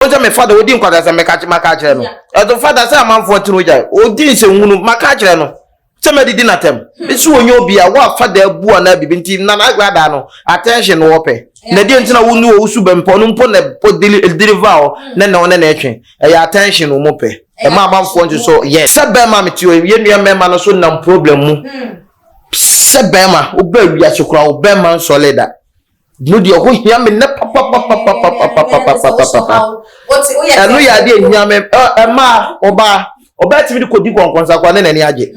wɔn sɛ mefa da ɔdi nkwadasɛm meka maka akyerɛ no ɛto fa da sɛ amanfoɔ atene ogya ɔdi nsɛnhunu maka akyerɛ no sɛ madidi n'atɛm ɛsi wɔnyɛ obi a woafa da abu anaa biribi nti na n'agra daa no attention na wɔpɛ na deɛ nti na wo ne wɔ wosu bɛmpɔ no mpo na deliver hɔ ne na ɔne na ɛtwe ɛyɛ attention wɔn pɛ ɛma amanfoɔ nso so yɛ sɛ bɛrima mete ɔ yɛ nua mmarima no so nam problem mu sɛ bɛrima wobɛ wiase koraa wo bɛrima nsɔle da Mo deɛ ɔho hia me nnɛ papapapapapapapapapa. Ɛno yɛ adeɛ hia me ɛmaa ɔbaa ɔbaa tumi de kɔdi nkɔnkɔnsakwa ne n'ani agye.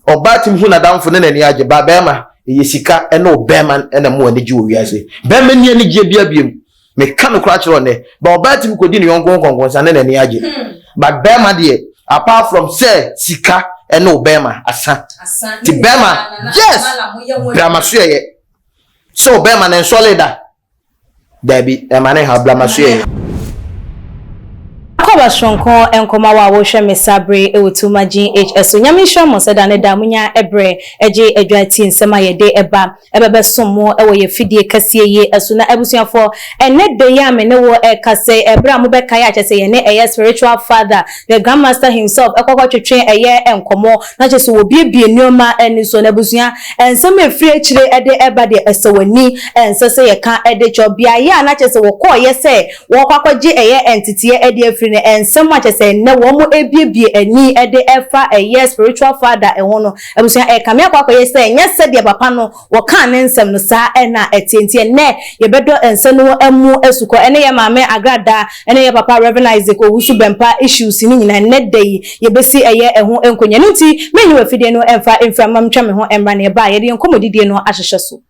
Ɔbaa tumi hu n'adamfo ne n'ani agye ba bɛrima ɛyɛ sika ɛna ɔbɛrima ɛna mo ani gye wɔ wiase. Bɛrima ni anigyeɛ bi abiem. Meka no koraa kyerɛ ɔnɛ ba ɔbaa tumi kɔdi ne yɔnko nkɔnkɔnsa ne n'ani agye. Ba bɛrima deɛ apart from sɛ sika ɛna ɔbɛrima asa. Ti bɛrima yes bramasoɛyɛ. Sɛ ɔbɛrima no nsɔle da. Daabi, ɛma no haw, bla m'aso yɛ. Akɔba soronko nkɔma wo a wohwɛ me saa bere yi wɔ Tuma GH so. Nyame nhyira mo sɛ da ne da monya bere gye adwa tie nsɛm a yɛde ba ɛbɛbɛsom mo wɔ yɛn afidie kɛseɛ yi so. Na abusuafoɔ, ɛnnɛ da yi a me ne wo rekasa yi, ɛberɛ a mobɛkae a kyerɛ sɛ yɛne ɛyɛ spiritual father, the Grandmaster himself, kɔkɔtwetwe ɛyɛ nkɔmmɔ. na kyerɛ sɛ wɔbuebue nneɛma ani so. Na abusua, nsɛm a ɛfiri akyire de ɛba deɛ, ɛsɛ w'ani, ɛnsɛ sɛ yɛka de kyerɛ wo. Beaeɛ a na kyerɛ sɛ wɔkɔeɛ sɛ wɔrekɔ akɔgye ɛyɛ nteteɛ adi afiri no, nsɛm a kyerɛ sɛ ɛnnɛ wɔrebuebue ani de ɛfa ɛyɛ spiritual father ho no, abusua, ɛkame akɔ akɔyɛ sɛ ɛnyɛ sɛdeɛ papa no Wɔkaa ne nsɛm no saa a na ɛteɛ. Nti ɛnnɛ yɛbɛdɔ nsa no mu asukɔ. Ɛne yɛn maame Agra Da ne yɛn papa Rev. Isaac Owusu-Bɛmpa issues no nyinaa nnɛ da yi yɛbɛsi ɛyɛ ɛho nkonya. Ɛno nti mennyi w'afidie no mfa mfira mma mentwa me ho mmra na yɛba a yɛde yɛn nkɔmmɔdidie no ahyehyɛ so.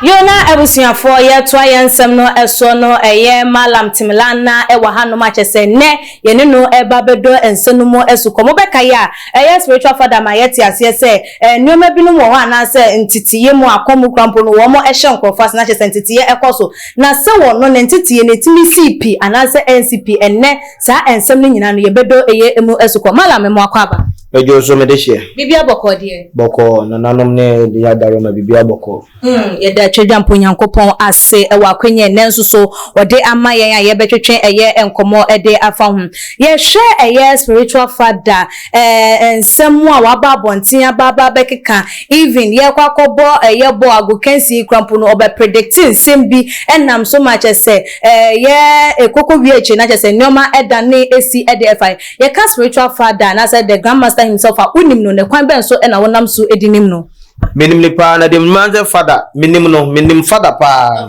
Yona abusuafoɔ, yɛretoa yɛn nsɛm no soɔ no, ɛyɛ Malam Timilan na ɛwɔ hanom a kyerɛ sɛ nnɛ yɛne no reba abɛdɔ nsa no mu asukɔ. Mobɛkae a, ɛyɛ Spiritual Father ma yɛte aseɛ sɛ nneɛma binom wɔ hɔ anaasɛ nteteeɛ mu a kɔn mu kura mpo no wɔhyɛ nkorɔfoɔ ase na kyerɛ sɛ nteteeɛ ɛkɔ so. Na sɛ wɔ no, ne nteteeɛ no ɛtumi sii pi anaasɛ ansi pi. Ɛnnɛ saa nsɛm no nyinaa no yɛbɛdɔ ɛyɛ ɛmu asukɔ. Malam, mmoa kɔ aba. Medwo nso mede hyeɛ. Bibia bɔkɔɔ deɛ. Bɔkɔɔ, nananom ne de adaroma bibia bɔkɔɔ. Hmm, yɛda Twadwampɔ Nyankopɔn ase wɔ akwanya ɛnnɛ nso so ɔde ama yɛn a yɛbɛtwetwe ɛyɛ nkɔmmɔ de afa ho. Yɛhwɛ ɛyɛ spiritual father eh, nsɛm mu a waba abɔnten aba aba abɛkeka, even yɛkɔ akɔbɔ ɛyɛ bɔɔl agokansi yi koraa mpo no ɔbɛ predicte nsɛm bi ɛnam so ma kyɛsɛ ɛyɛ ɛkɔkɔ wie akyire no akyɛsɛ nnoɔma ɛdane ɛsi ɛde ɛfa yɛn. Yɛka spiritual father anaasɛ the grand master himself a wonim no na kwan bɛn so na wonam so de nim no? Menim no paa na deɛ menim ara sɛ father menim no menim father paa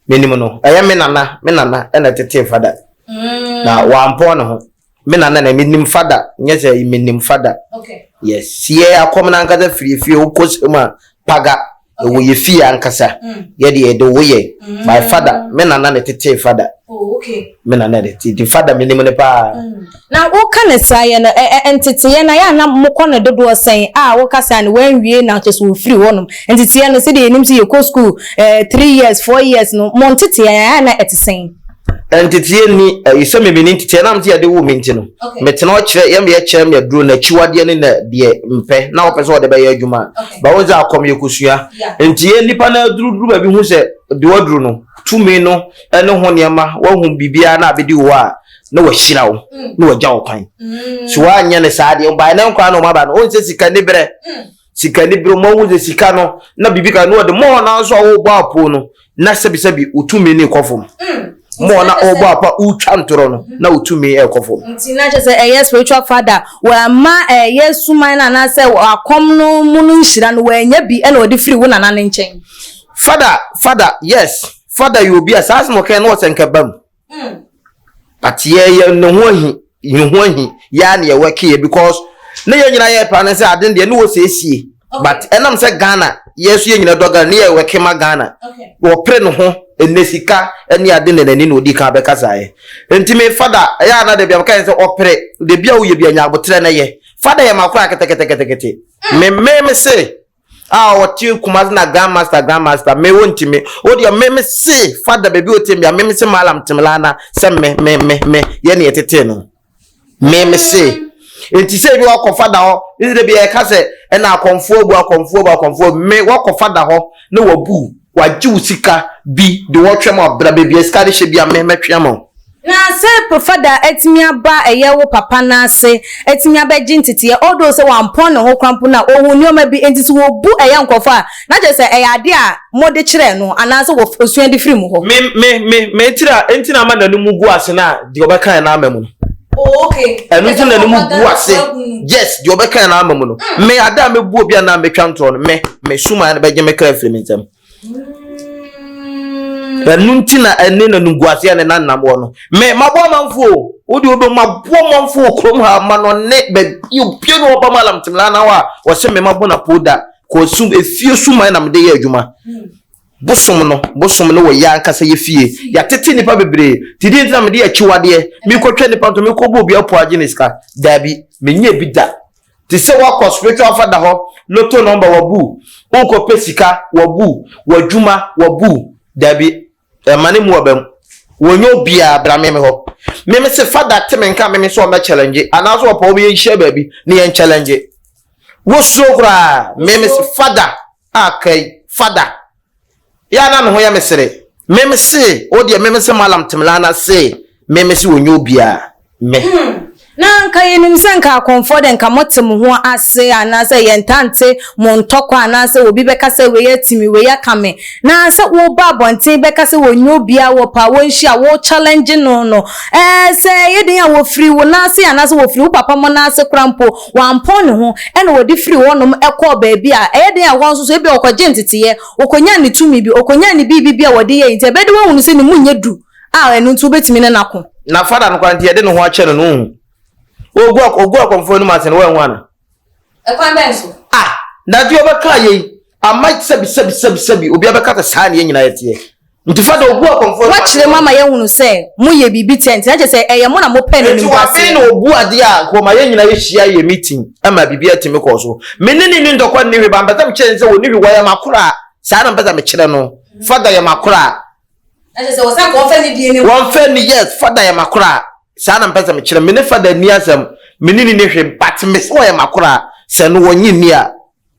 menim no ɛyɛ me nana me nana ɛna tetee father mm. na wampɔn ne ho me nana na menim father nyɛ sɛ menim father yes sie akɔm no ankasa firi fie wokɔ sɛ mu a paga Ewɔ yɛ fie ankasa yɛ deɛ yɛde wo yɛ my father me nana ne tetee father me nana ne te de father me nim ne paa. Na wo ka ne saa yɛ no ɛ ɛ nteteyɛ na yɛ a na mo kɔ no dodoɔ sɛn a wo ka saa no wanwie na kyɛ sɛ ofiri hɔ nom nteteyɛ no sɛdeɛ yɛ nim sɛ yɛ kɔ school ɛ three years four years no mo nteteyɛ yɛ a na ɛte sɛn. nteteɛ nni ɛyi sɛ mimi ne nteteɛ nam te yɛde wo mi nti no metena ɔkyerɛ yɛm yɛ kyerɛ mi aduro na akyiwadeɛ ne na deɛ mpɛ na wɔpɛ sɛ wɔde bɛyɛ adwuma ba wɔn sɛ akɔm yɛ kosua nti yɛ nipa na aduru duru baabi ho sɛ dewa duru no tumi no ɛne ho nneɛma wɔhu biribiara na abɛdi wo a na wahyira wo mm. na wagya wo kwan mm. so woanyɛ ne saa deɛ ɔbae ne nkwa na ɔmaba no ɔnsɛ sika ne berɛ mm. sika ni bere ma wo de sika no na bibi ka no de mo na so wo bɔ apo no na sɛbi sɛbi otumi ne kɔfom mm. mo na o bɔ apa utwa ntoro no mm-hmm. na otumi e kɔfom nti na kyerɛ sɛ ɛyɛ spiritual father wa ma ɛyɛ suman na na sɛ akɔm no mu no nhyira no wa nya bi ɛna ɔde firi wo nana ne nkyɛn father father yes father yɛ obi a saa asɛm ɔkɛn no ɔsɛ nkɛba mu Mm. But yɛ yɛ ne ho ahi yɛ ho ahi yɛ a na yɛ work yɛ because ne yɛ nyinaa yɛ plan sɛ ade deɛ ne wɔ siesie. But ɛnam sɛ Ghana yɛ nso yɛ nyinaa dɔ Ghana ne yɛ work ma Ghana. Wɔpere ne ho ɛnɛ sika ɛne ade na n'ani na odi kan bɛkasa yɛ. Nti me fada ɛyɛ a na dabi abɛka yɛn sɛ ɔpere dabi a woyɛ bi anya abotrɛ na yɛ. Fada yɛ ma koraa ketekete me me me se. Ah ɔwɔ team kumase na grand master grand master me wo ntimi wo deɛ me me se fada baabi o team bia me me se malam timilana sɛ me me me me yɛ ne yɛtete no me me se nti sɛ ebi wakɔ fada hɔ ne de bi yɛ ka sɛ ɛna akɔnfoɔ bu akɔnfoɔ bu akɔnfoɔ me wakɔ fada hɔ ne wabu wagye wo sika bi de wɔtwɛm ɔbra baabi a sika de hyɛ bi a me mɛtwɛm o. Na sɛ Pofɛda atumi aba ɛyɛ wo papa no ase atumi abɛgye nteteɛ although sɛ wampɔn ne ho kora mpo no a ɔhu nnoɔma bi nti so wɔbu ɛyɛ nkorɔfoɔ a na kyerɛ sɛ ɛyɛ adeɛ a mode kyerɛɛ no anaa sɛ ɔsua de firi mo hɔ. Me me me me tiri a ɛnti na ama n'anum gu ase na deɛ ɔbɛkaeɛ no ama mu no. Oh okay. Ɛno nti na n'anum gu ase yes deɛ ɔbɛkaeɛ no ama mu no. Me ada a mɛbu obi anaa metwa ntorɔ no me me sumaeɛ no bɛgye me kra afiri me nsam. ɛno nti na ɛne na nimguaseɛ ne nanam wɔ no me mabɔ amanfoɔ o wode wobɛ mabɔ amanfoɔ wɔ kurom ha ma no ne baabi obie no ɔba ma lam temla na hɔ a wɔse me mabɔ na po da kɔsum efie suman na mede yɛ adwuma bosom no bosom no wɔ yɛ ankasa yɛ fie yɛatete nnipa bebree te deɛ nti na mede akyiwadeɛ mekɔtwa nnipa nto mekɔbɔ obi apo agye ne sika daabi menyɛ bi da Te sɛ woakɔ spiritual father hɔ, lotto number wabu, wokɔ pɛ sika wabu, w'adwuma wabu, dabi ɛma ne mu aba mu. Wɔnyɛ obiara bra meme hɔ. Meme se father te me nka meme sɛ ɔmɛ challenge anaasɛ ɔpɛ ɔmɛ yɛnhyia baabi ne yɛn challenge. Wosuro koraa meme se father a kai father Ya na ne ho yɛ me sere. Meme se o deɛ meme se malam temla na se meme se ɔnyɛ obia me. Hmm na nka yɛnim sɛ nka akɔmfoɔ de nka mote mo ho ase anaasɛ yɛntaa nte mo ntɔkwa anaasɛ obi bɛka sɛ wei ati me wei aka me na sɛ woba abɔnten bɛka sɛ wɔnyɛ obiara wɔ paa wɔnhyia wo challenge no no ɛɛ sɛ ɛyɛ den a wɔfiri wo nan ase anaasɛ wɔfiri wo papa mo nan ase kora mpo Wampɔn ne ho na ɔde firii hɔnom kɔɔ baabi a ɛyɛ den a ɛhɔ nso so ebia ɔkɔgyee nteteeɛ, ɔkɔnyaa ne tumi bi, ɔkɔnyaa ne biribi bi a wɔde yɛe nti ɛbɛyɛ dɛ wahunu sɛ ne mu nyɛ duru a ɛno nti wobɛtumi ne no ako. Na Fada no koraa nti yɛde ne ho akyɛ no no wonhu. Ɔgu ɔgu akɔmfoɔ anim ase no woanhu anaa? Ɛkwan bɛn so? Ah! Daddy ɔbɛkaa yei ama sɛbi sɛbi sɛbi sɛbi obiara bɛka sɛ saa na yɛn nyinaa yɛteɛ. Nti fa dɔ bu akɔmfoɔ no. Woakyerɛ mu ama yɛahunu sɛ moyɛ biribi tia nti, na kyerɛ sɛ ɛyɛ mo na mopɛ no animguaseɛ. Nti wɔben na wɔbu adeɛ a nkurɔma yɛn nyinaa hyia yɛ meeting ma biribiara tumi kɔɔ so. Me ne no nni ntɔkwa nni hwee, but mpɛ sɛ mekyerɛ no sɛ ɔnni hwee, wɔyɛ m'akoraa, saa na mpɛ sɛ mekyerɛ no. Father yɛ m'akoraa. Na kyerɛ sɛ wɔsan ka wɔmfa nni DNA mu. Wɔmfa nni, yes, Father yɛ m'akoraa, saa na mpɛ sɛ mekyerɛ no. Me ne Father nni asɛm, me ne no nni hwee, but mese ɔyɛ m'akoraa, sɛ no wɔnnye nni a,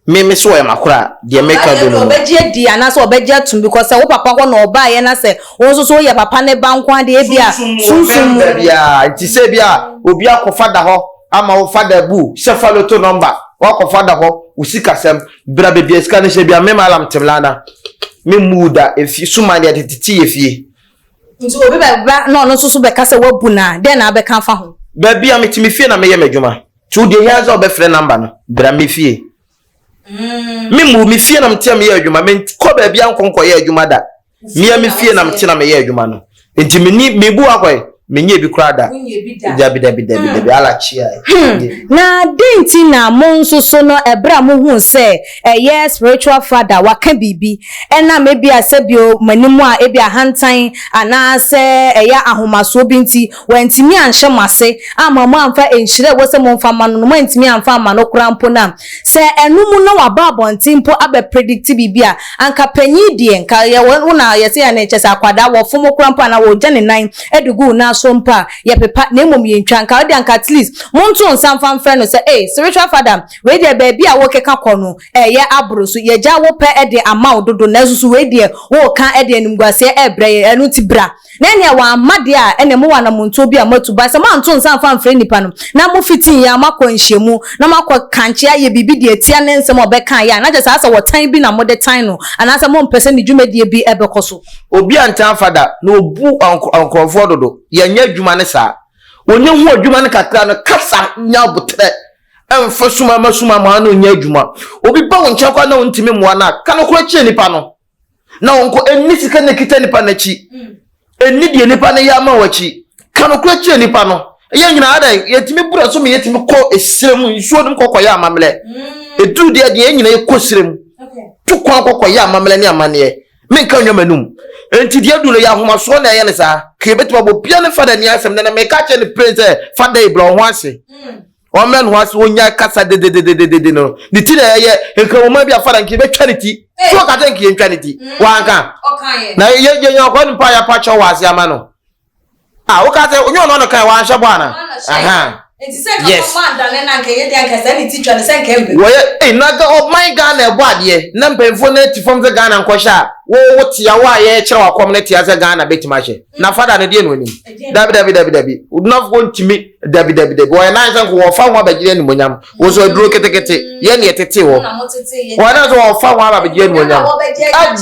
Me me so ɔyɛ makora a deɛ meka Anaasɛ bɛnu no. ɔbɛgye adi anaasɛ ɔbɛgye atum because sɛ wo papa hɔ na ɔbaeɛ na sɛ wo nso so woyɛ papa ne ba nko ara deɛ ebia Sunsum mu sunsum mu ɔmmɛmda biara nti sɛ ebia obi akɔ fada hɔ ama wo fada bu hyɛ fa loto number wakɔ fada hɔ wo sika sɛm bra baabi a sika no hyɛ ebia me malam temlana me mmu wo da efie suman deɛ tete te yɛ fie. Nti obi bɛba na ɔno nso so bɛka sɛ wabu no a dɛn na abɛka afa ho? Baabi a mete me fie na meyɛ m'adwuma. Nti wo deɛ hia sɛ wobɛfrɛ number no. Bra me fie. Mm. Me mu me fie na mtea meyɛ adwuma. Me kɔ baabi ankɔ nkɔyɛ adwuma da. Mea me fie na mte na meyɛ adwuma no. Nti me ni me bu akɔe. Menyɛ bi koraa da. Dabi dabi dabi hmm. dabi ala chia. Hmm. Na den nti na mo nso so no ɛberɛ a mohu sɛ ɛyɛ spiritual father waka biribi ɛnam ebi a sɛ bio m'anim a ebi ahantan anaasɛ ɛyɛ ahomasoɔ bi nti Wantumi anhyɛ mo ase amma moamfa nhyira a ɛwɔ sɛ momfa mma no no, moantumi amfa amma no koraa mpo no a, sɛ ɛno mu na waba abɔnten mpo abɛ predict biribi a, anka panyin deɛ, nka yɛ wɔ wo na yɛse yɛ ne, kyɛsɛ akwadaa, wɔfom wo koraa mpo anaa wɔgya ne nan de gu wo nan so mpo a, yɛpepa na mmom yɛntwa, nka ɔdeɛ anka at least monto nsa mfa mfrɛ no sɛ, ei, spiritual father, wei deɛ baabi a wokeka kɔ no ɛyɛ aboro so, yɛagya wopɛ de ama wo dodo nanso so wei deɛ woka de animguaseɛ ɛrebrɛ yɛn, ɛno nti bra. Na ɛneɛ wamma deɛ a, ɛneɛ mowɔ anammɔntuo bi a moatu. But sɛ moanto nsa amfa amfrɛ nnipa no, na mofitiiɛ a moakɔ nhyiamu, na moakɔ kankye ayɛ biribi deɛ ɛtia ne nsɛm a ɔbɛkaeɛ a, na kyerɛ saa sɛ ɔtan bi na mode tan no, anaasɛ mompɛ sɛ ne dwumadie bi bɛkɔ so. Obi antaa amfa da, na ɔbu nkorɔfoɔ dodo. Yɛnyɛ adwuma ne saa. Ɔnyɛ hu adwuma no kakra no, kasa, nya aboterɛ, mfa sumamasuma mmoa no nyɛ adwuma. Obi ba wo nkyɛn koraa na wontumi mmoa no a, ka nokorɛ kyerɛ nipa no. na wɔnkɔ ɛnni sika na ɛkita nipa no akyi ɛnni deɛ nipa no yɛ ama wɔ akyi ka nokorɛ kyerɛ nipa no yɛ nyinaa dɛ yɛtumi bura so ma yɛtumi kɔ ɛsirɛ mu nsuo nom kɔkɔyɛ amammerɛ ɛduru mm. deɛ deɛ yɛ nyinaa yɛkɔ sirɛ mu to kwan kɔkɔyɛ amammerɛ ne amanneɛ menka nnwa m'anum nti deɛ du no yɛ ahomasoɔ na ɛyɛ no saa ka yɛbɛtumi abɔ bia ne fada ni asɛm na na meka kyerɛ ne pere sɛ fada yi brɛ wo ho ase mm. Ɔmmrɛ ne ho ase, ɔnyae kasa dedededede no. Ne ti na ɛyɛ nkramoma bi a fada nka yɛbɛtwa ne ti. So ɔka sɛ nka yɛntwa ne ti? Wanka. Na yɛnyɛ ɔkɔ ne mpa yɛ pa kyɛw wɔ ase ama no. A woka sɛ onye ɔno na ɔkae wanhyɛ bɔ ana? Aha. Yes. Wɔyɛ ei na ɔman Ghana ɛbɔ adeɛ na mpanyinfoɔ na ɛti fam sɛ Ghana nkɔhyɛ a wɔwɔ tia wɔ a yɛkyerɛ wakɔm no tia sɛ Ghana bɛtumi ahyɛ na fada no deɛ na onim. Dabi dabi dabi dabi. Odunafo ntumi. Dabi, dabi, dabi. Wɔyɛ nan sɛ nko wɔfa ho abɛgye animonyam. Wɔsɔ aduro ketekete. Yɛ ne ɛtete wɔ. Wɔyɛ nan sɛ wɔfa ho abɛgye animonyam.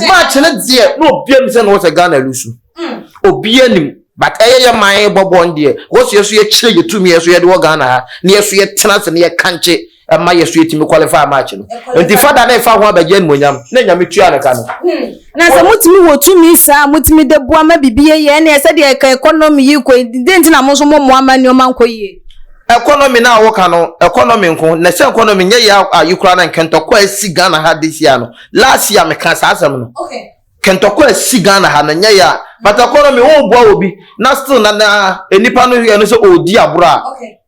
Match ne deɛ na obi anim sɛ na wɔsɛ Ghana lusu. Hmm. Obi anim. But ɛyɛ yɛ man bɔbɔ no deɛ. Wɔsɔ yɛ so yɛkyerɛ yɛ tumi yɛ so yɛde wɔ Ghana ha. Ne yɛ so yɛtena ase ne yɛ kankye. ɛma yɛ so yɛtumi qualify match no nti fada na ɛfa ho abɛgye animonyam na nyame tua no ka no hmm. na sɛ motumi wɔ tumi saa motumi de boa ma biribi yɛyɛ ɛne ɛsɛ deɛ ɛka economy yi kɔ dɛ nti na mo nso mommoa ma nneɔma nkɔ yie economy no a woka no economy nko na sɛ economy nyɛ yɛ ayi koraa na nkɛntɔkɔ a asi ghana ha this year no last year meka saa asɛm no kɛntɔkɔ a asi ghana ha no nyɛ yɛ a but economy woboa wɔ bi na still na na nnipa no yɛ no sɛ ɔredi aborɔ a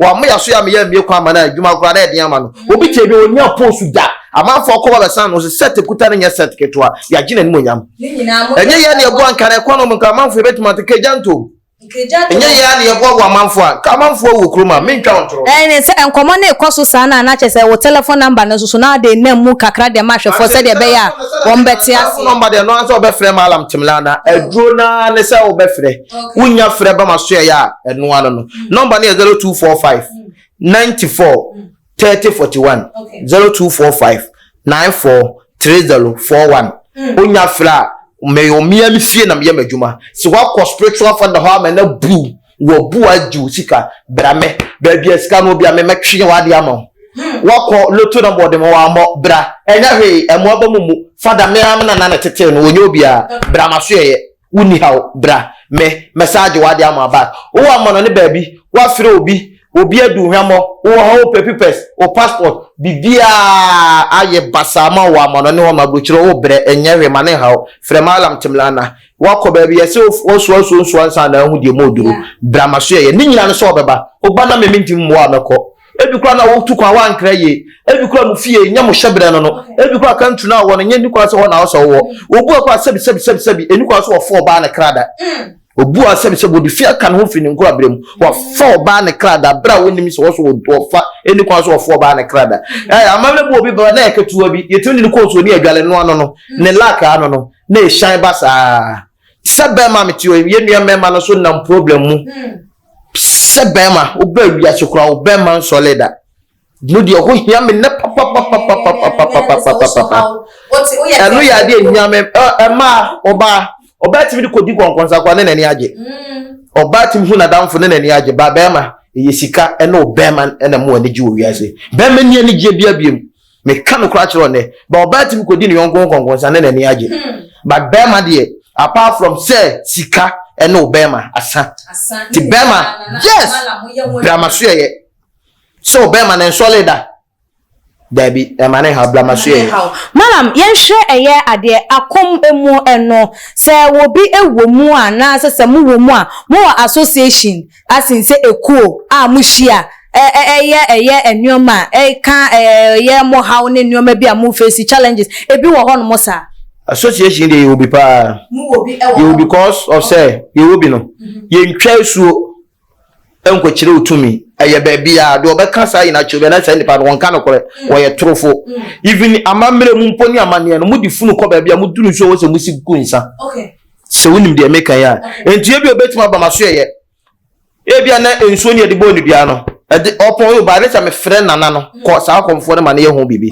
wɔama yɛ so yɛ ama yɛ mmie kwan ama no adwuma koraa na ɛden ama no obi te bi onya post da amanfoɔ kɔ ba bɛsan no so set kuta no nyɛ set ketewa yɛagye n'anim onyam ɛnyɛ yɛ ne ɛboa nka na ɛkɔ no mu nka amanfoɔ yɛbɛtumi ate kagya ntom ɛnyɛ yɛ a ne yɛboa wɔ amanfoɔ a nka amanfoɔ wɔ kurom a mentwa wo ntoro ɛne sɛ nkɔmmɔ ne ɛkɔ so saa no a na kyɛ sɛ wo telefon namba no soso na ade nam mu kakra deɛ ma ahwɛfoɔ sɛdeɛ ɛbɛyɛ a wɔmbɛte ase nɔmba deɛ no ansɛ wobɛfrɛ ma alam temla na aduro naa ne sɛ wobɛfrɛ wonya frɛ ba masoɛeɛ a ɛno ano no nɔmba no yɛ 0245 94 30 41 0245 94 30 41 wonya frɛ a meyɛ mmea me fie na meyɛ m'adwuma sɛ woakɔ spiritual father hɔ ama na bu wɔbu agye wo sika bra me baabi a sika no bi a memɛtwe wade ama wo wakɔ loto na bɔɔde mu wammɔ bra ɛnyɛ hwee ɛmmoa ba mu mu fada me ara me nana na tetee no wɔnyɛ obiara bra masoɛeɛ Wo nni haw, bra, me, mɛsan agye w'ade ama wo back. Wo wɔ amannɔne baabi, woafrɛ obi, obi adu wo hwammɔ, wo wɔ hɔ, wo pɛ pipɛs, wo passport, biribiara ayɛ basaa ama wo wɔ amannɔne hɔ ma aburokyire hɔ, wo brɛ, ɛnyɛ hwee, ma no nhaw wo, frɛ Mallam Timlana. Woakɔ baabi, yɛse wo soa nsuo nsoa ansa na ahu deɛ mu oduro, bra, maso yɛ yɛ, ne nyinaa no sɛ ɔbɛba, wo ba na me, mentumi mmoa wo, mɛkɔ. Ebi koraa na wotu kwan wankra yie. Ebi koraa mo fie nyɛ mo hyɛbrɛ no no. Ebi koraa kantu no a wɔn nyɛ ni koraa sɛ hɔ na ɔsɛ wowɔ. Obu a koraa sɛbi sɛbi sɛbi sɛbi eni koraa sɛ wɔfa ɔbaa ne kra da. Obu a sɛbi sɛbi ɔde fi aka ne ho firi ne nkorabrɛ mu. Wɔfa ɔbaa ne kra da bere a wonim sɛ wɔsɔ wɔfa eni koraa sɛ wɔfa ɔbaa ne kra da. Ɛɛ amammerɛ bu obi ba na yɛ ketewa bi yɛtumi de ne kɔ nsuo ne adwale no ano no ne lake ano no na ɛhyɛn ba saa. Sɛ bɛɛma a mete hɔ yi yɛn nua mmarima no nso nam problem mu. Sɛ bɛrima, wobaa wiase koraa wo bɛrima nsɔle da. No deɛ ɛho hia me nnɛ papapapapapapapapapapa. Ɛno yɛ adeɛ hia me ɛmaa ɔbaa ɔbaa tumi de kɔdi kɔnkɔnsa koraa ne n'ani agye. Ɔbaa tumi hu n'adamfo ne n'ani agye ba bɛrima ɛyɛ sika ɛne ɔbɛrima ɛna mo ani gye wɔ wiase. Bɛrima ni anigyeɛ bia biem. meka no koraa kyerɛ ɔnɛ ba ɔbaa tumi kɔdi ne yɔnko ho kɔnkɔnsa ne n'ani agye hmm. but bɛrima deɛ apart from sɛ sika ɛne wo bɛrima asa ti bɛrima yes bramasoɛyɛ sɛ wo bɛrima ne nsɔle da dabi ɛma ne ha bramasoɛyɛ malam yɛnhwɛ ɛyɛ adeɛ akɔm mu ɛno sɛ wɔbi ɛwɔ mu a na sɛ sɛ mowɔ mu a mowɔ association asen sɛ ekuo a mohyia ɛ ɛ ɛyɛ ɛyɛ nnoɔma a ɛka ɛ ɛyɛ mo haw ne nnoɔma bi a mo face challenges ebi wɔ hɔnom saa. Association deɛ yɛwɔ bi paa. Mowɔ bi wɔ hɔ. Yɛwɔ because of sɛ yɛwɔ bi no yɛntwa asuo nkɔkyerɛ wo tumi ɛyɛ baabiara deɛ ɔbɛka saa nyinaa kyerɛ na saa nipa no wɔnka nokorɛ wɔyɛ torofo even amammerɛ mu mpo ne amanneɛ no mode funu kɔ baabi a moduru nsuo wɔ sɛ mosi gu nsa. Okay. sɛ wonim deɛ meka yi a nti ebi obetumi aba ma so yɛyɛ ebi a na nsuo ne yɛde bɔ nnudua no ɛde ɔpɔn yɛ ɔbaa ne sɛ mefrɛ nana no kɔ saa akɔmfoɔ no ma ne yɛ ho biribi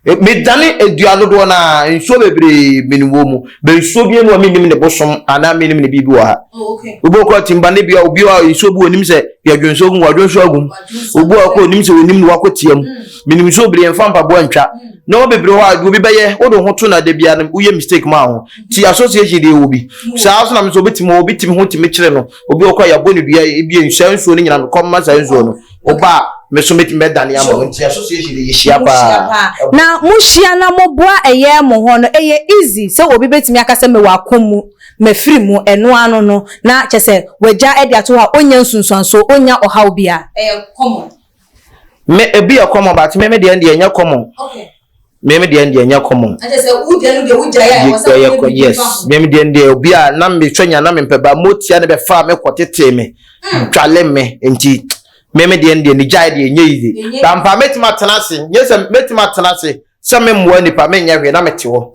e, medane adua dodoɔ no a nsuo bebree menuwɔ mu bɛ nsuo bi mu a menim ne bosom anaa menim ne biribi wɔ ha oh, obi ɔkɔ timba ne bia obi a nsuo bi onim sɛ yɛdwo nsuo gum wadwo nsuo agum obi a ɔkɔ onim sɛ onim ne wakɔ tiam hmm. menim nsuo bebree mfa mpaboa ntwa hmm. na wɔn bebree hɔ a obi bɛyɛ wode ho to na da biara woyɛ mistake maa ho ti association deɛ wɔ bi saa so na mesɛ obi timi obi timi ho timi kyerɛ no obi ɔkɔ yɛabɔ ne dua ebi nhyɛ nsuo no nyina mekɔ mma saa nsuo no ɔba a meso metimi bɛdane ama no nti association deɛ yɛhyia paa na mohyia na moboa ɛyɛ mo hɔ no ɛyɛ easy sɛ obi bɛtumi aka sɛ mewɔ ako mu mafiri mu ɛno ano no na kyɛ sɛ wagya de ato hɔ a ɔnya nsunsuansoɔ ɔnya ɔhaw bia ɛyɛ common me ebi yɛ common but me me deɛ deɛ nyɛ common me me deɛ deɛ nyɛ common yɛkɔ yes me me deɛ deɛ obi a na me twɛ nya na me mpɛ ba mo tia ne bɛ fa me kɔ tete me dwale hmm. me nti me me deɛ deɛ ne gyae deɛ nyɛ yiye bampa mɛtumi atena ase nyɛ sɛ mɛtumi atena ase sɛ me mmoa nipa me nyɛ hwee na me te hɔ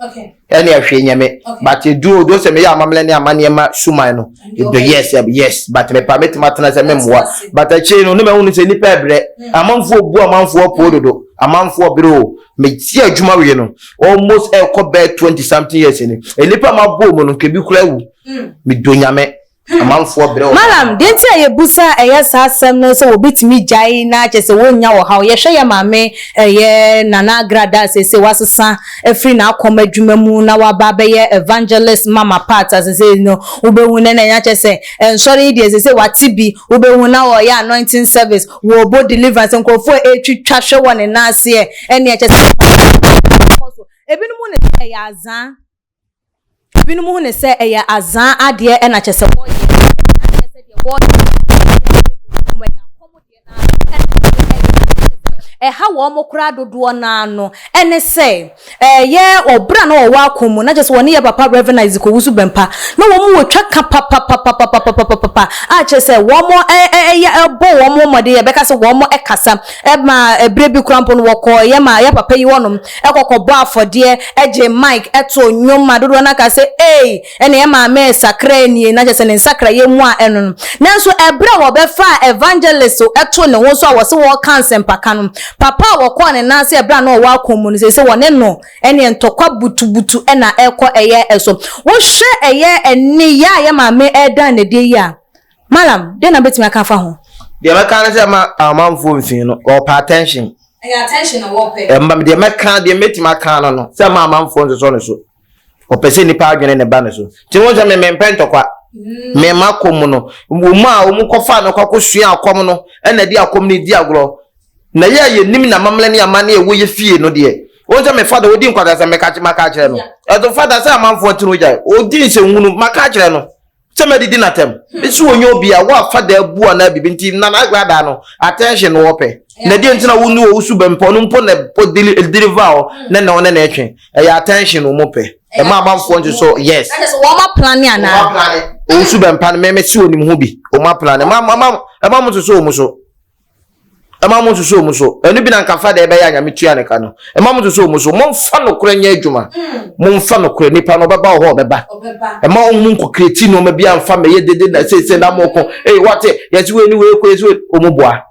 ɛne ɛhwee nyɛ me but edu odo sɛ me yɛ amamlɛ ne ama nneɛma suman no edo yes eh, yes but me pa me tuma tena sɛ me mmoa but ɛkyɛ no ne ma hunu sɛ nipa ɛbrɛ hmm. amanfoɔ bu amanfoɔ poo dodo amanfoɔ bere o me ti adwuma wie no almost ɛkɔ bɛɛ twenty something years ni nipa ma bɔ mu no nkebi kura wu hmm. me do nyame. Malam, deɛ nti a yɛbusa ɛyɛ saa asɛm no sɛ wɔbɛtumi gyae na kyerɛ sɛ wɔnnya ɔhaw. Yɛhwɛ yɛn maame ɛyɛ Nana Agradaa a seesei wasesa afiri n'akɔm adwuma mu na waba abɛyɛ Evangelist Mama Pat a seesei no wobɛhu no na kyerɛ sɛ nsɔre yi deɛ seesei wate bi wobɛhu na ɔreyɛ anointing service, wɔrebɔ deliverance, nkurɔfoɔ ɛretwitwa hwɛ wɔ ne nan aseɛ ɛnneɛ kyerɛ sɛ ɔhaw biara nkɔ so. Ɛbinom hu no sɛ ɛyɛ azaa. Ebinom hu no sɛ ɛyɛ azã adeɛ na kyerɛ sɛ wɔreyɛ na kyerɛ sɛ deɛ wɔreyɛ no ɛyɛ akɔmdeɛ no ara na ɛde reyɛ na kyerɛ sɛ ɛha wɔn koraa dodoɔ no ara no ne sɛ ɛyɛ ɔbrɛ a na wɔwɔ akɔm mu na kyerɛ sɛ wɔne yɛn papa Rev. Isaac Owusu Bɛmpa na wɔwɔ twa ka papapapapapapapa a kyerɛ sɛ wɔyɛ bɔ wɔn mmɔden a yɛbɛka sɛ wɔkasa. Ɛmaa berɛ bi koraa mpo no wɔkɔɔ yɛ ma yɛ papa yi hɔnom kɔ kɔbɔɔ afɔdeɛ gyee Mike too nnwom ma dodoɔ no ara kaa sɛ Ei! Ɛnna yɛ maame resakraɛ nie, na kyerɛ sɛ ne nsakraeɛ mu a ɛno no. Nanso ɛberɛ a wɔbɛfaa Evangelist too ne ho so a wɔse wɔreka nsɛmpaka no, papa a wɔkɔɔ ne nan ase ɛberɛ a na ɔwɔ akɔm mu no, seesei wɔne no ɛnneɛ ntɔkwa butubutu na ɛrekɔ ɛyɛ so. Wohwɛ ɛyɛ nneyɛɛ a yɛ maame reda no adie yi a, Mallam, dɛn na wobɛtumi aka afa ho? Deɛ mɛka ne sɛ ma amanfoɔ mfii no, wɔpɛ attention. Ɛyɛ attention na wɔpɛ. Ɛmma deɛ mɛka, deɛ mɛtumi aka no no, sɛ ma amanfoɔ nsosɔ ne so. Ɔpɛ sɛ nipa adwene ne ba ne so. Nti wo sɛ me mempɛ ntɔkwa. Mm. Me ma kɔm no, wɔn a wɔn kɔfa no kɔkɔ sua akɔm no, ɛna di akɔm no di agorɔ. Na yɛ a yɛnim na mamlɛ ne ama ne ɛwɔ yɛ fie no deɛ, wɔn sɛ me fada ɔdi nkwadaa sɛ meka maka akyerɛ no. Ɛto fada sɛ amanfoɔ tiri gyae, ɔdi nsɛnwunu maka akyerɛ no. sɛ mɛdidi no atɛm ɛsɛ ɔnyɛ obi a woafa da abu anaa biribi nti na n'agra da no attention no wɔpɛ na deɛ nti na wo ne wɔ wosu bɛ mpɔ no mpo na deliver hɔ na na ɔne na ɛtwe ɛyɛ attention wɔn pɛ ɛma amanfoɔ nso so yes wɔn aplane anaa wɔn su bɛ mpa no mɛmɛ si wɔn ho bi wɔn aplane ɛma mo nso so wɔn so. ɛma mo nsusu wɔn so ɛno bi na nka fa deɛ ɛbɛyɛ anyame tua ne ka no ɛma mo nsusu wɔn so mo nfa nokorɛ nyɛ adwuma hmm. mo nfa nokorɛ nipa no ɔbɛba wɔ hɔ ɔbɛba ɛma wɔn mu nkokiri ti nneɛma bi anfa mɛyɛ dede na sese na mo ko ee wɔte yɛsi wei ni wei ko yɛsi wei wɔn bua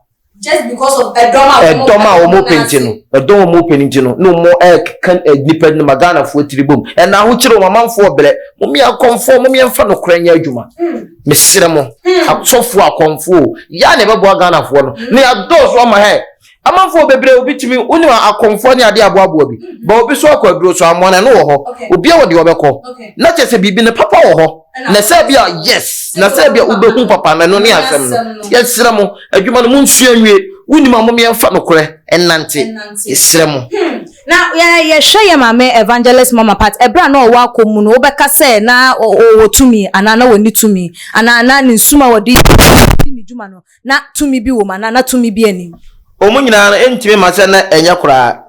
just because of ɛdɔm a wɔn ɛdɔm a wɔn pɛ nti no ɛdɔm a wɔn pɛ nti no na wɔn ɛka nipa no ma ghana foɔ tiri bom ɛna ahokyere wɔn amanfoɔ brɛ wɔn yɛ akɔnfoɔ wɔn yɛ nfa nokorɛ nyɛ adwuma. Hmm. mesrɛ mo hmm. asɔfoɔ akɔmfoɔ yɛ a na ɛbɛboa ghanafoɔ no na yɛadɔɔso ama hɛ amanfoɔ bebree obi tumi wonim akɔmfoɔ ne adeɛ aboaboa bi ba obi so akɔ aduro so amoa no ɛno wɔ hɔ obi wɔ deɛ ɔbɛkɔ na kyɛ sɛ biribi no papa wɔ hɔ na sɛ bi a yes na sɛ bi a wobɛhu papa no ɛno ne asɛm no yɛsrɛ mo adwuma no monsua nwie wonim a momeɛmfa nokorɛ ɛnante yɛsrɛ mo hmm. Na yɛhwɛ yɛn maame Evangelist Mama Pat, ɛberɛ a na ɔwɔ akɔm mu no, wobɛka sɛ na ɔwɔ tumi anaa na ɔnni tumi? Anaa na ne nsum a ɔde di ne dwuma no, na tumi bi wɔ mu anaa na tumi bi nni mu? Wɔn nyinaa no, ɛntumi mma sɛ na ɛnyɛ koraa.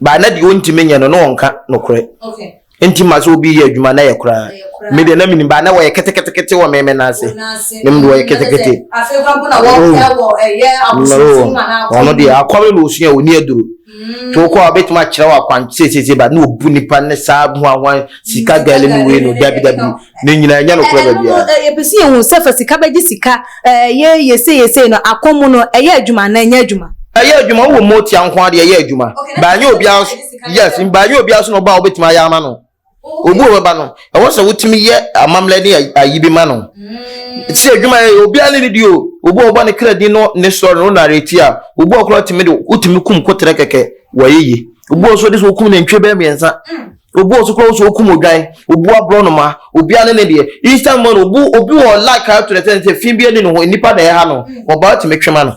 But na deɛ ɔntumi nyɛ no, na ɔnka nokorɛ. Enti ma sɛ obi yɛ adwuma na yɛ koraa. Me deɛ na menim baa na wɔyɛ ketekete wɔ me me nan ase. Na menim wɔyɛ ketekete. Ɔno deɛ akɔre na ɔsua ɔni aduro. Nti wokɔ a ɔbɛtumi akyerɛ wɔ akwan seesiesie ba na ɔbu nipa ne saa huahuan sika gɛle ne wei no dabi dabi. Ne nyinaa ɛnyɛ nokorɛ ba biara. Ɛno no yɛpɛ sɛ yɛhu sɛ fa sika bɛgye sika, ɛyɛ yɛsei yɛsei no, akɔm mu no ɛyɛ adwuma anaa ɛnyɛ adwuma? Ɛyɛ adwuma, wowɔ motia nko ara deɛ ɛyɛ adwuma. But ɛnyɛ obiara nso, yes, but ɛnyɛ obiara nso na ɔba a wobɛtumi ayɛ ama no. Obi wɔ bɛba no, ɛwɔ sɛ wotumi yɛ amammerɛ ne ayi bi ma no. Sɛ adwuma yɛ obiara ne ne di o, obi wɔ bɔ ne kra din no ne sɔre no nare ti a, obi wɔ koraa tumi de wotumi kum koterɛ kɛkɛ wɔyɛ yie. Obi wɔ nso de sɛ wokum nantwie bɛyɛ mmiɛnsa. Obu ɔso koraa sɛ okum odwan, obu aborɔnoma, obiara ne ne deɛ. Eastern man obu obi wɔ like a ɛto ne sɛ sɛ fi bi ani ne ho nnipa na ɛha no wɔba wɔtumi twe ma no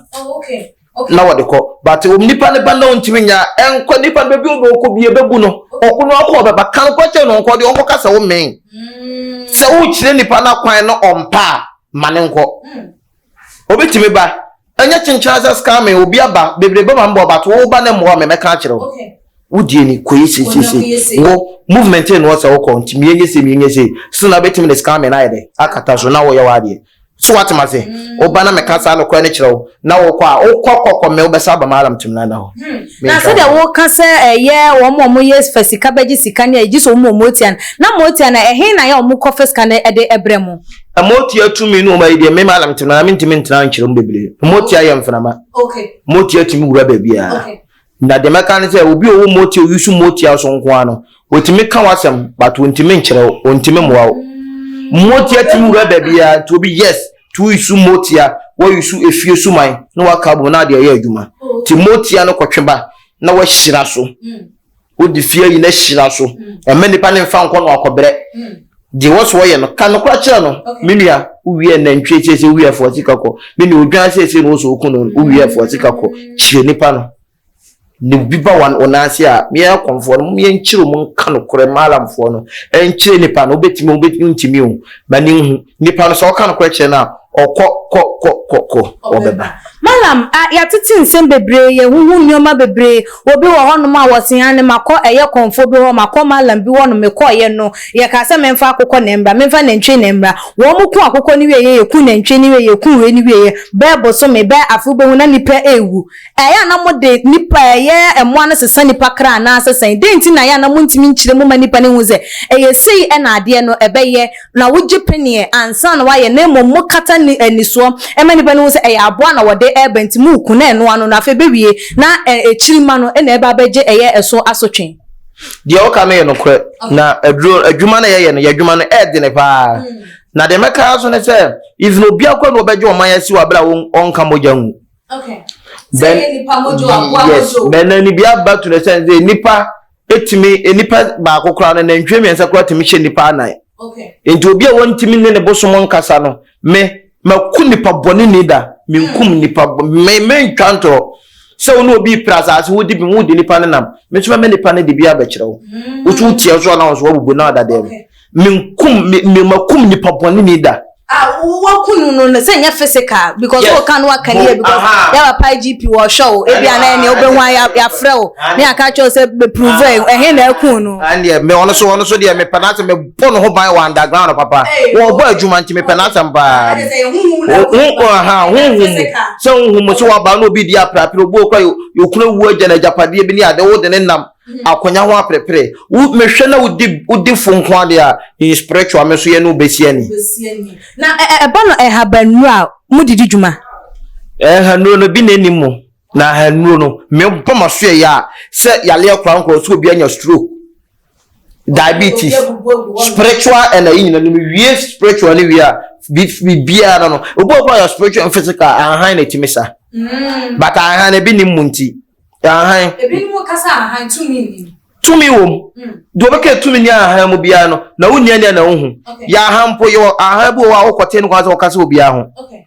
na wɔde kɔ but nnipa no ba na ɔntumi nya ɛnkɔ nnipa no bɛbi ɔde ɔkɔ bi ɛbɛbu no ɔko no ɔkɔ ɔbɛba ka nkɔ kyɛ no nkɔ de ɔnkɔ ka sɛ wo mmɛn sɛ wokyerɛ nnipa no akwan no ɔmpa a ma ne nkɔ. Obi tumi ba, ɛnyɛ kyenkyena sɛ scam me, obi aba, bebrebe ma mbɔ but wo ba na mmoa me, mɛka akyerɛ wo. Wo deɛ ni, kɔ yɛ sei sei sei. Wo movement no ɔsɛ wokɔ, nti mie nyɛ sei, mie nyɛ sei. So na wobɛtumi de scam me no ayɛ dɛ akata so na woyɛ w'adeɛ. So wate ma se, wo ba na mɛka saa nokorɛ no kyerɛ wo, na wokɔ a, wokɔ kɔ kɔ me wo bɛsa aba m'alarm tim no ada hɔ. Na sɛdeɛ woka sɛ ɛyɛ wɔn a wɔyɛ fa sika bɛgye sika ne ayi, gye sɛ wɔn a wɔtua no. Na motua no a, ɛhe na yɛ a wɔkɔ fa sika no de brɛ mo? motua tumi no ɔma yi deɛ mema na mete no mentumi ntena nkyerɛ mu bebree motia yɛ mframa motia tumi wura baabiara na deɛ mɛka ne sɛ obi ɔwɔ motia oyi so motia so nko ara no wɔtumi ka w'asɛm but wɔntumi nkyerɛ wo wɔntumi mmoa wo motia tumi wura baabiara nti obi yes nti woyi so motia wɔyi so efie so man na waka bom na adeɛ yɛ adwuma nti motia no kɔtwe ba na wahyira so wode fie yi na hyira so ɛma nipa ne mfa nkɔ no akɔbrɛ deɛ wɔ so wɔyɛ no ka no kora kyerɛ no me nua wowiɛ nantwie sɛ sɛ wowiɛ foɔ sika kɔ me nua odwan sɛ sɛ no wɔ so woku no wowiɛ foɔ sika kɔ kyerɛ nipa no ne obi ba wɔn wɔn ase a meɛ kɔnfoɔ no meɛ nkyerɛ mu nka no korɛ maalamfoɔ no ɛnkyerɛ nipa no wobɛtumi wobɛtumi ntumi o ma ne nhu Nipa no, sɛ ɔka nokorɛ kyerɛ no a, ɔkɔ kɔ kɔ kɔ kɔ, ɔbɛba. Malam, a yɛatete nsɛm bebree, yɛahuhu nneɛma bebree, obi wɔ hɔnom a wɔse aane makɔ ɛyɛ kɔmfoɔ bi hɔ, makɔ Malam bi hɔnom, mekɔeɛ no, yɛkaa sɛ memfa akokɔ na ɛmmra, memfa nantwie na ɛmmra, wɔn ku akokɔ no wieeɛ, yɛku nantwie no wieeɛ, yɛku wei no wieeɛ, bɛɛ bosome, bɛɛ afe wobɛhu na nnipa ɛrewu, Ɛyɛ a na mode nnipa a ɛyɛ mmoa no sesa nnipa kra anaasɛ sɛn? Dɛn nti na ɛyɛ a na muntumi nkyerɛ mu mma nnipa no nhu sɛ ɛyɛ sei na adeɛ no ɛbɛyɛ na wogye peneɛ ansa na wɔayɛ na mmom mokata ne anisoɔ ma nnipa no hu sɛ ɛyɛ aboa na wɔde reba nti moku na ɛno ano no afei ɛbɛwie na akyiri mma no na ɛba abɛgye ɛyɛ ɛso asotwe? Deɛ woka no yɛ nokorɛ na aduro adwuma no yɛyɛ no yɛ adwuma no ɛyɛ dene paa na deɛ mɛka so ne sɛ even obi akɔ na wɔbɛgye ɔman asi wɔ abere a ɔnka mogya ngu Okay. Then, yes, na na ni bia ba to the sense say nipa etimi nipa ba ko kra na nantwie mmiɛnsa kra timi hyɛ nipa anan. Okay. Nti obi a wɔntimi ne ne bosom nkasa no me maku nipa bɔne ni da menkum hmm. nipa me mentwa ntorɔ sɛ wo ne obi pira asase wodi bi wodi nipa ne nam me nso mɛmɛ nipa ne de bi abɛkyerɛ wo hmm. wotu tiɛ so anaa nso wabubu na ɔda dɛm. Okay. menkum me me makum nipa bɔne ni da. Ah, waku no no sɛ nyɛ physical because yes. wɔka no waka nie because yɛ papa igp wɔhwɛ o ebi a na ɛne wobɛhu a yɛafrɛ o ne aka kyerɛ sɛ bɛprove ɛhe na aku no ɛneɛ me ɔno so ɔno so deɛ mepɛ no asɛ mebɔ no ho ban wɔ underground papa wɔbɔ adwuma nti mepɛ no asɛm paa honhum sɛ honhum sɛ wɔaba no obi di aprapere obi ɔkɔ yɛkuna wu agya no agyapadeɛ bi ne ade wode ne nam Akonya ho aperepere. Wo me hwɛ na wo di wo di fo nko ade a in spiritual me nso yɛ ne wo bɛ si ani. Na ɛbɔ no ɛhaban nuro a mo de di dwuma. Ɛhanuro no bi na ɛnim mo na ɛhanuro no me bɔ ma so yɛ yɛ a sɛ yareɛ kora nkora sɛ obi anya stroke, diabetes, spiritual and ayi nyina no me wie spiritual no wie a bi biara no no obi wɔ hɔ a ɔyɛ spiritual and physical ahan na ɛtumi sa mm. but ahan no bi nim mo nti. Ahan. Ebinom ka sɛ ahan tumi nni mu. Tumi wɔ mu. Mm. Deɛ ɔbɛka tumi ni ahan mu biara no, na wo nua nea na wohu. Okay. Yɛ ahan mpo yɛ ahan bi wɔ hɔ a wokɔte no kwan sɛ wɔka sɛ obiara ho. Okay.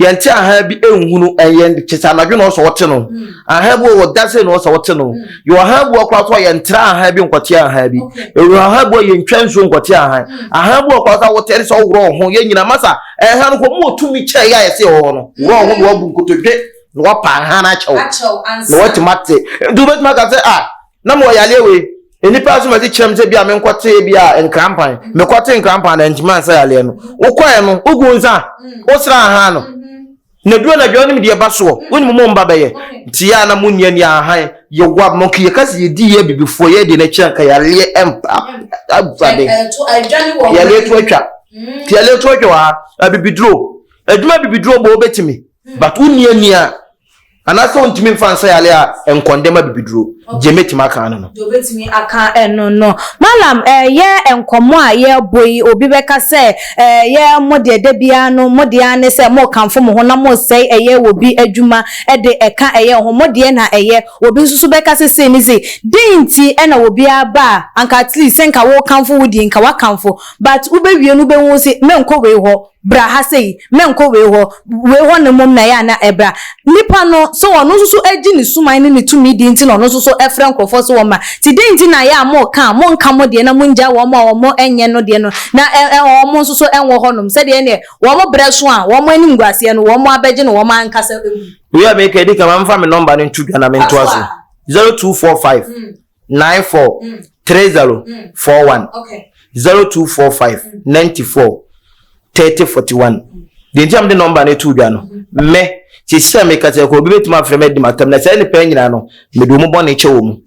Yɛnte ahan bi nhunu ɛyɛ kyɛ sɛ anadwo na ɔsɛ wɔte no. Mm. Ahan bi wɔ hɔ dase na ɔsɛ wɔte no. Mm. Yɛ ahan bi wɔ koraa so a yɛntra ahan bi nkɔte ahan bi. Okay. Yɛ ahan bi wɔ yɛntwa nsuo nkɔte ahan. Mm. Ahan bi wɔ koraa so a wɔte ɛde sɛ ɔworɔ ho yɛ nyina masa. Ahan no kɔ mu ɔtumi kyɛ yɛ a yɛsɛ yɛ hɔ no. Worɔ ho na wɔabu nkotodwe. na wapa hann akyɛ wo na woatumi ate nti wobɛtumi aka sɛ ah na mewɔ yareɛ wei nnipa asom adi kyerɛ m sɛ bi a menkɔtee bi a nkrampan mm-hmm. mekɔte nkrampan na ntumi ansa yareɛ no wokɔɛ no wogu nsa mm. wosra hann no mm-hmm. na duro na dwa wonim deɛ ba soɔ mm-hmm. wonim mo mba bɛyɛ nti yɛ a na monni ani ahan yɛwa mo nka yɛka sɛ yɛdi yɛ abibifoɔ yɛ deɛ no akyira nka yareɛ ɛmpa afade yareɛ to atwa nti yareɛ to atwa wɔ ha abibiduro adwuma abibiduro bɔ wobɛtumi But wo nni ani a anaasɛ wontumi mfa nsa yare a nkɔndɛ ma bibiduro. Gye mɛtumi aka ano no. Deɛ ɔbɛtumi aka ɛno no. Mallam ɛyɛ nkɔmmɔ a yɛrebɔ yi obi bɛka sɛ ɛyɛ mo deɛ da biara no mo deɛ ara ne sɛ morekamfo mo ho na moresɛe ɛyɛ wɔ bi adwuma de ɛka ɛyɛ ho mo deɛ na ɛyɛ wɔ bi nso so bɛka sɛ sei ne sei dɛn nti na wɔ bi ara ba a anka at least sɛ nka worekamfo wo deɛ nka woakamfo but wobɛwie no wobɛhu se menkɔ wei hɔ bra ha sei, menkɔ wei hɔ, wei hɔ no mmom na ɛyɛ a na ɛbra. Nipa no, sɛ ɔno nso so agye ne suman ne ne tumidi nti na ɔno nso so frɛ nkurɔfoɔ sɛ wɔmma. Nti dɛn nti na ɛyɛ a moka a monka mo deɛ na mongyae wɔn a wɔn nyɛ no deɛ no na wɔn nso so nwɔ hɔnom, sɛdeɛ ɛnneɛ wɔn berɛ so a wɔn animguaseɛ no wɔn abɛgye no wɔn ankasa mu. Wei a mereka yi, di kan ma memfa me nɔmba no nto dwa na mentoa so, zero two four five, nine four three zero four one zero two four five ninety four thirty forty one deɛ nti a mede nɔmba no to dwa no mɛ te sɛ meka sɛ kɔ obi bɛtumi afrɛ me adi matam na saa nnipa nyinaa no mede wɔn bɔne kyɛ wɔn mu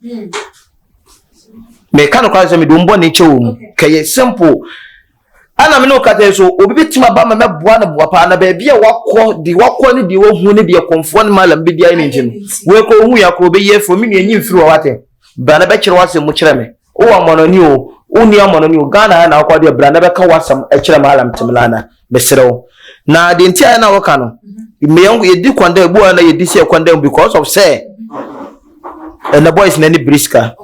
meka no kora sɛ mede wɔn bɔne kyɛ wɔn mu kɛyɛ simple Ɛna me ne wo kasa yi so, obi bɛtumi aba ma mɛboa no boa paa na baabi a wakɔ de wakɔ ne deɛ wahu ne deɛ kɔmfoɔ ne malam bɛdi ayɛ ne nti no wɔkɔ hu yɛ akɔ bɛyi afiri me nua nyi mfiri wɔ wate bra na bɛkyerɛ w'asɛm mu kyerɛ me wowɔ amɔnɔni o wonni amɔnɔni o ghana ha na wokɔ deɛ bra na bɛka w'asɛm kyerɛ malam temelana mesrɛ wo na deɛ nti ayɛ na woka no yɛdi kɔn dɛ buwa na yɛdi sɛ kɔn dɛ because of sɛ ɛnɛ boys na ne biriska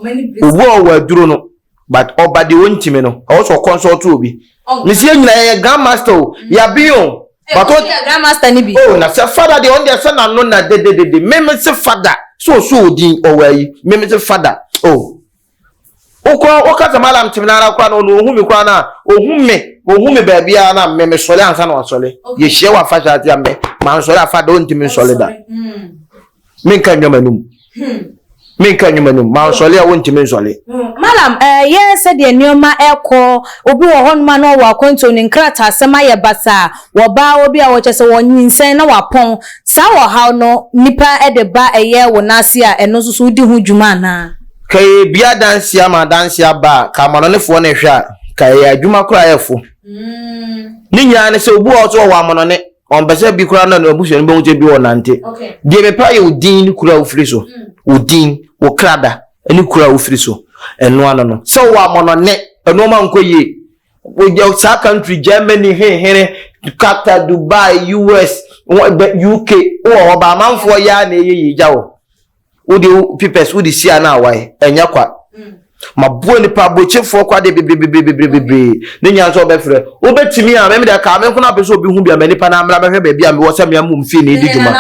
obu a ɔwɔ aduro no But ɔba deɛ ɔntimi no ɛwɔ sɛ ɔconsult obi. Mesi yɛn nyinaa yɛyɛ grand master o, yɛaben o. But o oh na sɛ fada deɛ ɔno deɛ sɛ n'ano na dededede. Me mese fada sɛ ɔsɔ odin ɔwɔ ayi me mese fada oh. Wokora woka sɛ malam timi no ara koraa na ɔno ɔhu me koraa no a ɔhu me ɔhu me baabi ara na me mesɔre ansa na wasɔre. Yɛhyia wɔ afahyɛ ase a me mansɔre a fada ɔntimi nsɔre da. menka nnwa m'anom menka nnwa m'anom mansɔle a wontumi nsɔle malam ɛyɛ eh, sɛdeɛ nneɛma ɛkɔ obi wɔ hɔnom a na ɔwɔ akwantuo ne nkrataa asɛm ayɛ basaa wɔbaa obi a wɔkyɛ sɛ wɔnyinsɛn na wapɔn saa wɔ haw no nipa ɛde ba ɛyɛ wɔ n'ase a ɛno nso so wodi ho dwuma anaa ka yɛ bi adanse ama adanse aba a ka amanɔnefoɔ no hwɛ a ka yɛ adwuma koraa ɛfo mm. ne nyinaa ne sɛ obi wɔ so ɔwɔ amanɔne Ɔmpɛ sɛ bi koraa na n'abusua no bɛhu sɛ bi ɔnante. Deɛ mepɛ ayɛ wo din ne kuro a wofiri so. Mm. Wo din, wo krada ne kuro a wofiri so. Ɛno ano no. Sɛ wowɔ amɔnɔne, nnoɔma nkɔ yie. Wogya saa country Germany, hehere, Qatar, Dubai, US, UK, wowɔ hɔ ba amanfoɔ yɛ a na ɛyɛ yie gya wɔ. wode wo pipɛs wode si a na awae ɛnyɛ kwa maboa nipa abokyefoɔ kwa deɛ bebrebebrebrebrebree ne nya nso ɔbɛfrɛ wobɛtumi a mɛmɛ deɛ kaa me nkono apɛ sɛ obi hu bi a mɛ nipa na amena bɛhwɛ baabi a mewɔ sɛ mea mom fie ne di dwuma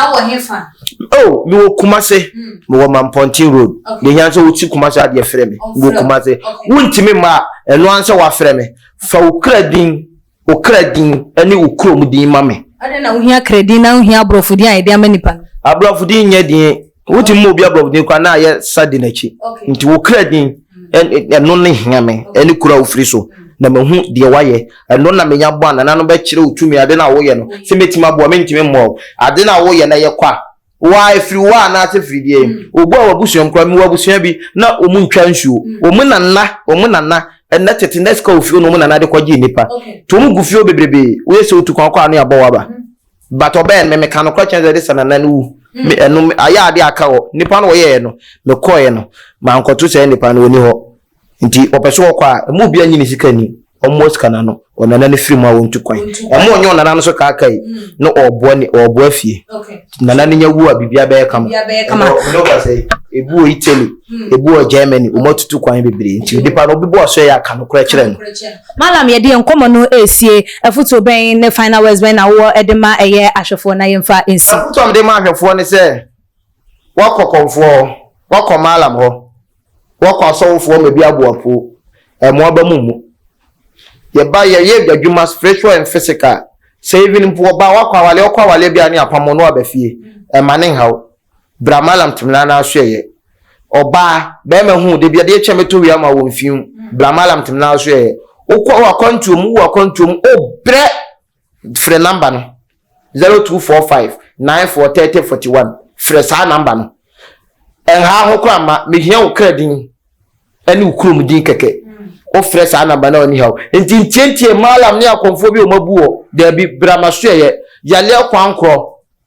o mewɔ kuma se mewɔ mampɔnten road ne hia sɛ wosi kuma se adeɛ frɛ me mewɔ kuma se wontumi mma a ɛno ansɛ wafrɛ me fa wo kra din Wo kra din ne wo kurom din ma me. Adɛn na wohia kra din na wohia aborɔfo din a yɛde ama nnipa no? Aborɔfo din nyɛ din. Wotumi ma obi aborɔfo din koraa na ayɛ sa di n'akyi. Nti wo kra din, ɛno na ehia me, ɛne kuro a wofiri so, na mahu deɛ woayɛ. Ɛno na menya bɔ a nananom bɛkyerɛ wo tumi. Ade no a woyɛ no, sɛ mɛtumi aboa a, mentumi mmoa wo. Ade no a woyɛ no yɛ kwa. Wa efiri wa anaase firi deɛ mm. obu a wabusua mu kura mi wabusua bi na wɔn ntwa nsuo mm. wɔn nana wɔn nana ɛnna tete na sika ofio na wɔn nana de kɔgye nipa to wɔn gu fio bebrebe woyɛ sɛ otu kwan kɔ ano abɔ waba mm. but ɔbɛn mi meka no kora kyɛn sɛ de sɛ nana no wu mi ɛno ayɛ ade aka hɔ nipa no wɔyɛ yɛ no mekɔɛ no mankɔto sɛ nipa no wɔni hɔ. Nti wɔpɛ so wɔkɔ a, wɔn mu obiara nyi ne sika nni. Wɔmmoa sika no ano. Ɔnana no firi mu a, wɔntu kwan. Wɔn a wɔnyɛ ɔnana no so kaakae no, wɔreboa ne, wɔreboa afie. Nti nana no nya wu a, biribiara bɛyɛ kama. Biribiara bɛyɛ kama. Ɛnna wɔn ɔba sɛ, ebi wɔ Italy, ebi wɔ Germany, wɔatutu kwan bebree. Nti nipa no, ɔbɛbɔ aso a, ɛyɛ a, ka nokorɛ kyerɛ no. Mallam, yɛde yɛn nkɔmmɔ no resie. Afotuo bɛn ne final words bɛn na wowɔ de ma ɛyɛ ahwɛfoɔ na yɛmfa nsi? Afotuo a mede ma ahwɛfoɔ ne sɛ, Woakɔ kɔmfoɔ hɔ, woakɔ mallam hɔ, Wɔkɔ asɔwofoɔ ma bi aboa po ɛmo aba mo mu. Yɛba yɛyɛ adwadwuma spiritual and physical. Sɛ even mpo ɔbaa wakɔ awaleɛ ɔkɔ awaleɛ bia ne apam wo ne waba fie ɛma ne nhaw. Bra malam temena no aso ɛyɛ. Ɔbaa bɛɛma hu wo dabi adeɛ kyɛ mɛtɔ wia ama wo mfiw. Bra malam temena aso ɛyɛ. Wokɔ wakwantuo mu wo akwantuo mu obrɛ. Frɛ namba no, zero two four five nine four thirty forty one. Frɛ saa namba no. Ɛnhaa ho koraa mma, mehia wo kra din ne wo kurom din kɛkɛ. Wofrɛ saa namba no a ɔnni haw. Nti ntiantia maalam ne akɔmfoɔ bi a wɔabu wɔ, daabi, bra m'asoɛeɛ, yareɛ kwan korɔ.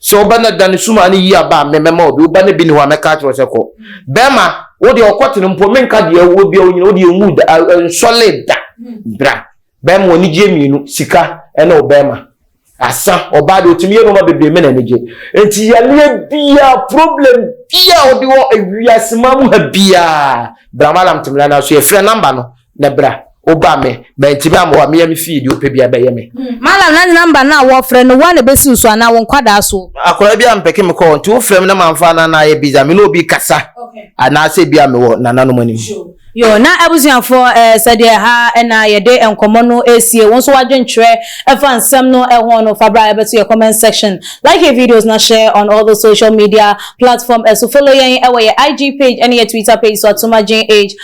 Sɛ wo ba no da ne sumaa no yie aba a, me mɛma obi. Wo ba no bi ne hɔ a, mɛka akyerɛ wo sɛ kɔ. Bɛrima, wo deɛ ɔkɔtene mpo, menka deɛ ɛwɔ biara, onyini, wo deɛ nwu da, nsɔle da. Bra. Bɛrima, wo anigyeɛ mmienu, sika ne wo bɛrima. Asa, ɔbaa deɛ ɔtumi yɛ nnoɔma bebree, me na anigye. Enti yareɛ biara, problem biara a ɔde wɔ ewiase man mu ha biara, bra Mallam Timilani aso, yɛfrɛ number no. na bra woba me mantimi amoa mea me fie deɛ wopɛ bia bɛyɛ me. Malam na nyina mba no a wɔfrɛ no woa na ɛbɛsi wo so anaa wo nkwadaa so. Akwadaa bi a mpɛke me kɔɔ nti wofrɛ me na mamfa anaa na ayɛ biza me ne obi kasa anaasɛ bi a mewɔ nananom anim. Yoo na abusuafoɔ eh, sɛdeɛ ha na yɛde nkɔmmɔ no ɛresie wo nso w'adwenkyerɛ ɛfa nsɛm no ɛho no fa bra ɛbɛto yɛ comment section like yɛ videos na share on all the social media platform ɛso follow yɛn ɛwɔ yɛ IG page ɛne yɛ Twitter page so atomagyen age